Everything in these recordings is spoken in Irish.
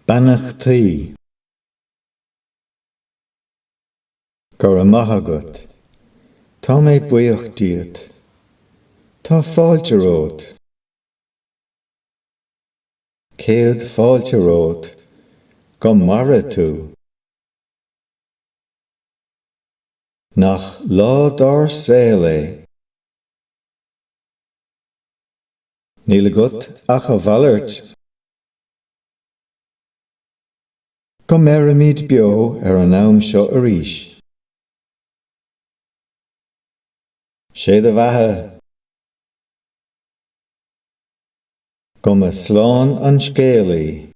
Beannachtaí. Go raibh maith agat. Tá mé buíoch díot. Tá fáilte romhat. Céad fáilte romhat. Go maire tú. Nach lá dár saol é! Níl agat ach a mhalairt. Go mbeirimid beo ar an am seo arís. Sé do bheatha. Go mba slán an scéalaí.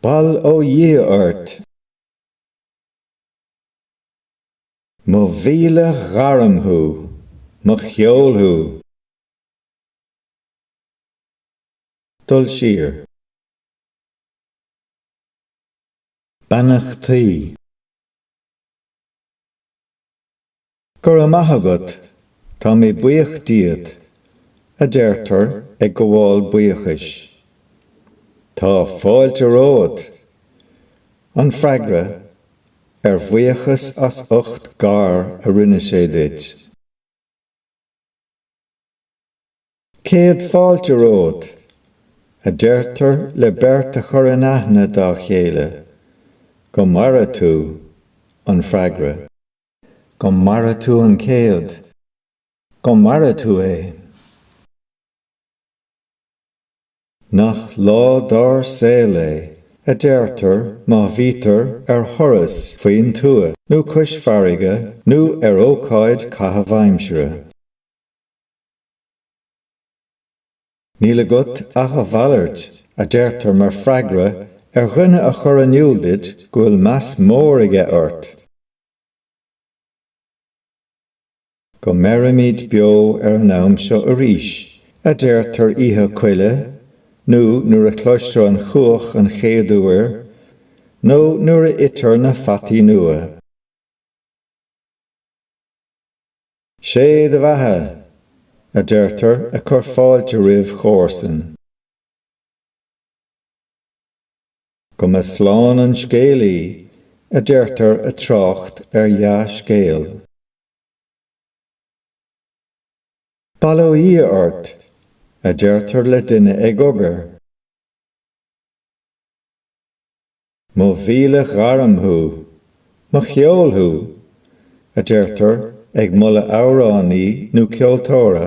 Bail ó Dhia ort. Mo mhíle ghairm thú, mo cheol thú. Dul siar. Beannachtaí. Go raibh maith agat, tá mé buíoch díot, a deirtear ag gabháil buíochais. Tá fáilte romhat! an freagra ar bhuíochas as ucht gar a rinne sé duit. Céad fáilte romhat, a deirtear le beirt a chur in aithne dá chéile. Go maire tú, an freagra. Go maire tú an céad. Go maire tú é. Nach lá dár saol é, a deirtear, má bhítear ar thuras faoin tuath nó cois farraige nó ar ócáid caitheamh aimsire. Níl agat ach a mhalairt, a deirtear mar freagra ar dhuine a chur in iúl duit go bhfuil meas mór aige ort. Go mbeirimid beo ar an am seo arís, a deirtear Oíche Coille, nó nuair a chloistear an chuach an chéad uair, nó nuair a itear na fataí nua. 'Sé do bheatha! a deirtear ag cur fáilte roimh chomharsain. Go mba slán an scéalaí, a deirtear ag trácht ar dhea-scéal. Bail ó Dhia ort, a deirtear le duine ag obair. Mo mhíle ghairm thú! Mo cheol thú! a deirtear ag moladh amhránaí nó ceoltóra.